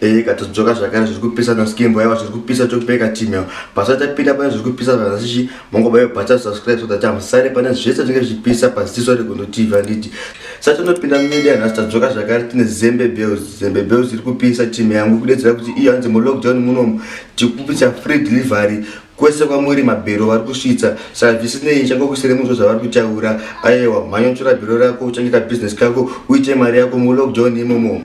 Eh, katodzoka zvakare zviri kupisa naskimbo yava zviri kupisa chokupeka chimeo basa tapinda pane zviri kupisa zvakasichi mongobayo basa subscribe so that amusare pane zvese zvinenge zvichipisa paziso regondo tv anditi satinopinda mumedia nhasi tadzoka zvakare tine zembe bells zembe bells iri kupisa chime yangu kudedzera kuti iyo hanzi mulockdown munomu tikupisa free delivery kwese kwamuri mabhero vari kusvitsa saka zvisinei changokusire muzvo zvavari kutaura ayewa mhanyonchora bhero rako uchangita business kako uite mari yako mulockdown imomo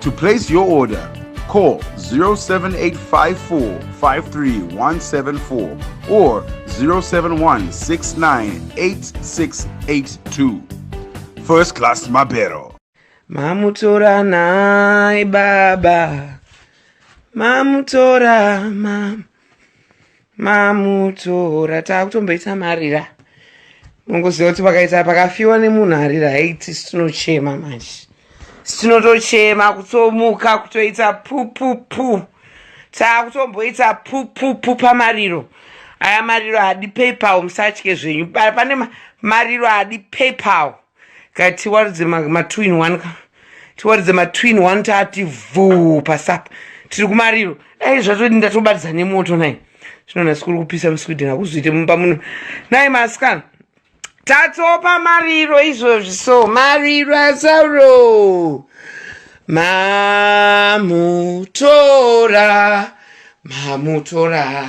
To place your order, call 07854531774 or 071698682. First Class Mabero. Mamutora nai baba. Mamutora mam. mamutora takutomboita marira mungoziva kuti pakaita pakafiwa nemunhu arira haiti situnochema manje situnotochema kutomuka kutoita pupupu takutomboita pupupu pamariro aya mariro adi paypal musatye zvenyu pane mariro adi paypal Ka tiwaridze ma, ma two in one ka. Tiwaridze ma two in one taati vhuu pasapa. Tiri kumariro. Dai zvatodi ndatobatidza nemoto nai. Zvino nhasi kuri kupisa muSweden hakuzoite mumba muno. Nai maskana. Tatopa mariro izvozvi so mariro asauro. Mamutora. Mamutora.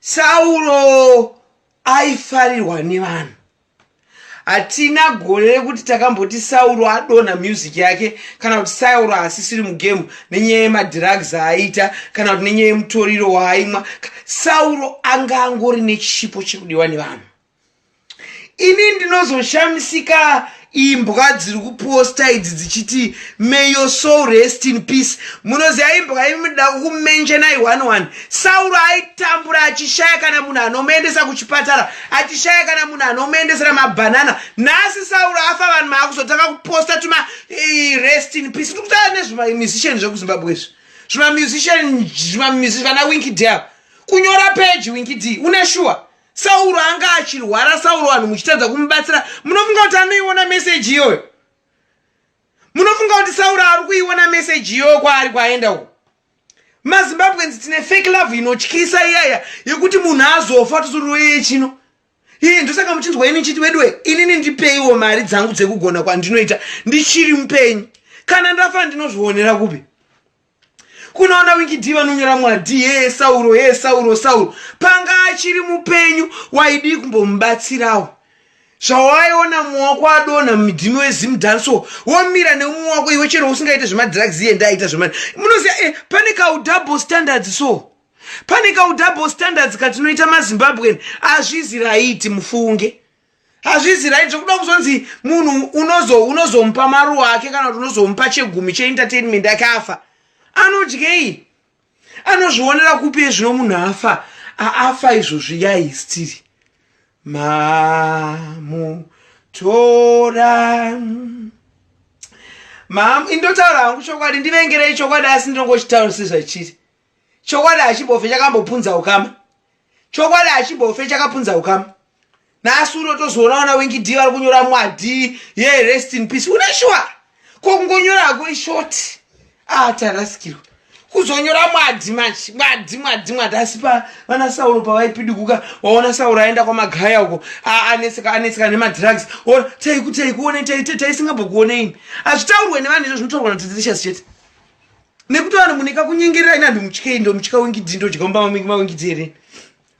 sauro aifarirwa nevanhu hatina gore rekuti takamboti sauro adonha music yake kana kuti sauro haasisiri mugemu nenyaya yemadrugs aaiita kana kuti nenyaya yemutoriro waaimwa sauro anga angori nechipo chekudiwa nevanhu ini ndinozoshamisika imbwa dziri kuposta idzi dzichiti may your soul rest in peace munoziva imbwa imi munoda kumentionai one one sauro aitambura achishaya kana munhu anomuendesa kuchipatara achishaya kana munhu anomuendesera mabhanana nhasi sauro afa vanhu maakuzotanga kuposta tuma eh, rest in peace tiri kutaura nezvimamusician zvekuzimbabwe izvi zvimamusician vana winki dea kunyora peji winki d une shuwa sauro anga achirwara sauro vanhu muchitadza kumubatsira munofunga kuti anoiona meseji iyoyo munofunga kuti sauro ari kuiona meseji iyoyo kwaari kwaenda uko mazimbabwens tine fake love inotyisa iyaya yekuti munhu azofa tisururoyeye chino iye ndosaka muchinzwa ini chiti weduwe inini ndipeiwo mari dzangu dzekugona kwandinoita ndichiri mupenyu kana ndafa ndinozvionera kupi kunoona wikidhii vanonyora mwadhi hee sauro hee sauro sauro panga achiri mupenyu waidii kumbomubatsirawo zvawaiona mumwe wako adonha mudhimi wezim danso womira neumwe wako iwe chero usingaite zvemadrugs iye ndaaita zvema munoziva e eh, pane kaudouble standards so pane kaudouble standards katinoita mazimbabwen azvizi raiti mufunge hazvizi right zvekuda kuzonzi munhu unozo unozomupa maruwa ake kana kuti unozomupa chegumi cheentertainment ake afa anodyei anozvionera kupi ezvino munhu afa aafa izvozvi yai stiri mamu tora mamu indotaura hangu chokwadi ndivengerei chokwadi asi ndinongochitaura sezvachiri chokwadi hachibofe chakambopunza ukama chokwadi hachibofe chakapunza ukama nhasi uno tozoona vana wengi d vari kunyora mwadi ye rest in peace une shuwa ko kungonyora hako ishoti ah tarasikirwa kuzonyora mwadi manje mwadi mwadi mwadi asi pa vana sauro pavaipidiguka waona sauro aenda kwamagaya uko anetseka anetseka nemadrugs or taikutai kuone taisingabhokuoneini hazvitaurwe nevanhu izvo zvinotaurwa nateterishasi chete nekuti vanhu munika kunyengerera ina ndomutyei ndomutya wingidzi ndodya mumba mamingi mawingidzi here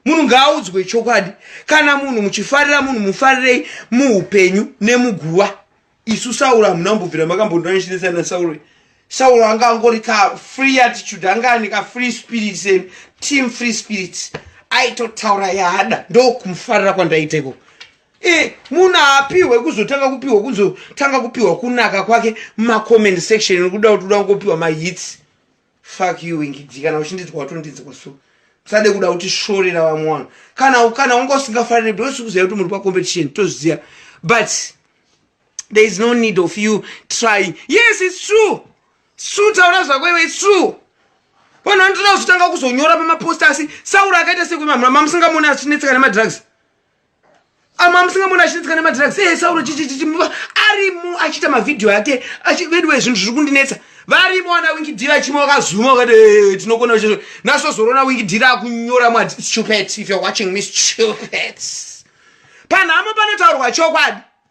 munhu ngaaudzwe chokwadi kana munhu muchifarira munhu mufarirei muupenyu nemuguva isu sauro hamuna mbobvira makambondanishinisa nasauro sauro anga angori ka free attitude anga ane ka free spirit sen team free spirits aitotaura yaada ndokumufarira kwandaita ikoko e munhu aapihwe kuzotanga kupihwa kuzotanga kupihwa kunaka kwake mumacomment section nekuda kuti uda kungopihwa mahits fak you wingidi kana uchindinzwa watondinzwa so musade kuda kuti shorera vamwe vanhu kana kana wanga usingafanire because kuziva kuti muri pacompetition tozviziva but there is no need of you trying yes its true its true taura zvako iwe its true vanhu vanotoda kuzotanga kuzonyora pamaposta asi saura akaita sekwemamura mamusingamoni achinetseka nemadrugs ama musingambona achinetseka nemadrugs ee eh, sauro chichichichi arimo achiita mavhidhiyo ake veduwe zvinhu zviri kundinetsa varimo wana winkidira chimwe wakazuma wakati eh, eh, tinokona chizvo nasozorona winkidira akunyora mwa stupet if you're watching me stupet panhamo panotaurwa chokwadi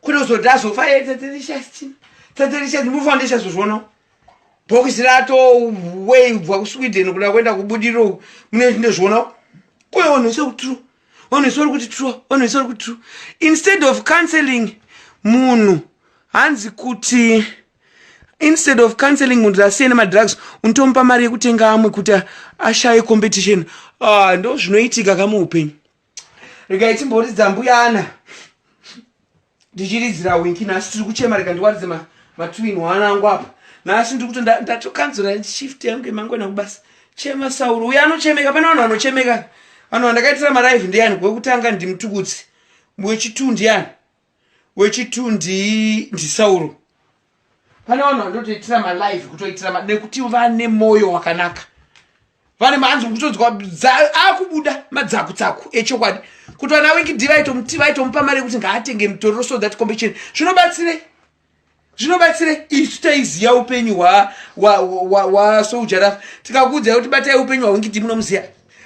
kunozoda azofa ye taterishasti taterishasti mufa ndichazozvionawo bhokisi rato wei ubva kusweden kuda kuenda kubudiriro uku mune ndozvionawo kuyo vanhu vese kutru vanhu vese vari kuti tru vanhu vese vari kuti tru instead of counseling munhu hanzi kuti instead of counseling munhu asiye nemadrugs unotomupa mari yekutenga amwe kuti ashaye competition ah, ndo zvinoitika kamuupenyu regai timboridza mbuya ana ndichiridzira winki nhasi tiri kuchema rega ndiwaridze matwin hwana angu apa nhasi ndiri kuti ndatokanzura shift yangu yemangwana kubasa chema sauro uye anochemeka pane vanhu vanochemeka vanhu vandakaitira maraive ndiyani wekutanga ndimutukudzi wechitundi yani wechitu ndisauro pane vanhu vanotoitira malive kutoitira nekuti vane mwoyo wakanaka vane maanzi kutodzwa akubuda madzakutsaku echokwadi kuti vana wikidi vaitomuti vaitomupa mari yekuti ngaatenge mitoriro so that kombecheni zvinobatsirei zvinobatsira isu taiziva upenyu hwasoujarafa tikakuudzai kuti batai upenyu hwaungiti munomuziva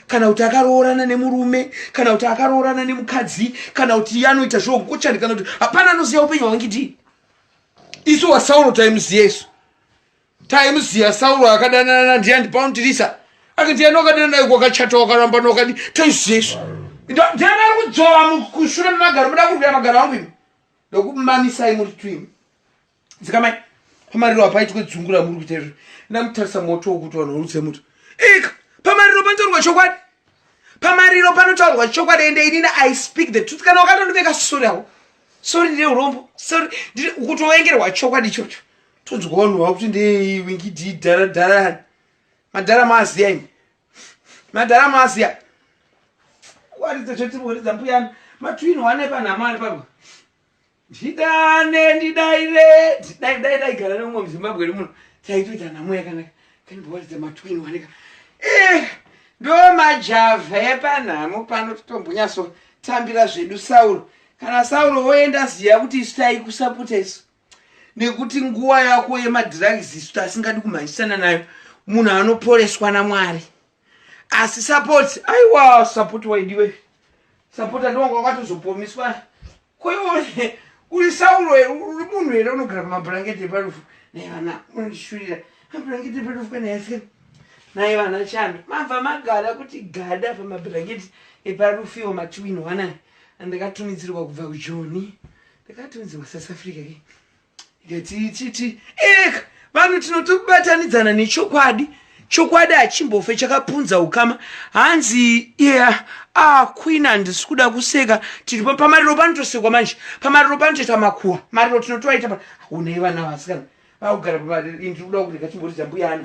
kana kuti akaroorana nemurume kana kuti akaroorana nemukadzi kana kuti anoita zvokuchani kana kuti hapana anoziva upenyu hwaungiti isu wasauro taimuziva isu taimuziva sauro akadanana ndiani paundirisa akati yani wakadana naye kwakachata wakaramba nokadi taiziva isu ndiani ari kudzova kushure memagaro muda kurwira magaro angu imi ndokumamisai muri twin dzikamai pamariro apaitwe dzungu ramuri kuita izvo ndamutarisa moto wokuti vanhu vorutse muto ika pamariro panotaurwa chokwadi pamariro panotaurwa chokwadi ende inini i speak the truth kana wakatondiveka sori avo sori ndine urombo sori kutovengerwa chokwadi ichocho tonzwa vanhu vakuti ndeiwingidii dhara dharani madhara maaziya imi madhara masiya waridza chetibhoridza mbuyani matwin wane panhamo ari papa ndidane ndidaire dai dai dai gara nemumwe muzimbabwe ri muno taitoita nhamo yakanaka kanibhoridza matwin waneka eh, ndo majavha epanhamo pano titombonyaso tambira zvedu sauro kana sauro woenda ziya kuti isu taikusapota isu nekuti nguva yako yemadrugs isu tasingadi kumhanyisana nayo munhu anoporeswa namwari asi support aiwa support waidiwe support andiwanga wakatozopomiswa koione uri sauro here uri munhu here unogara pamabhurangeti eparufu naye vana unondishurira mabhurangeti eparufu kana yasika naye vana chando mabva magara kuti gada pamabhurangeti eparufu iwo matiwini wanai andakatumidzirwa kubva kujoni ndakatonziwa south africa ke ndetiititi eka vanhu tinotobatanidzana nechokwadi chokwadi hachimbofe chakapunza ukama hanzi yeah, ah, queen handisi kuda kuseka tiri pamariro panotosekwa manje pamariro panotoita makuwa mariro tinotoaita unei vana vasikana vakugara pamariro ini tiri kuda kurega chimboridza mbuyana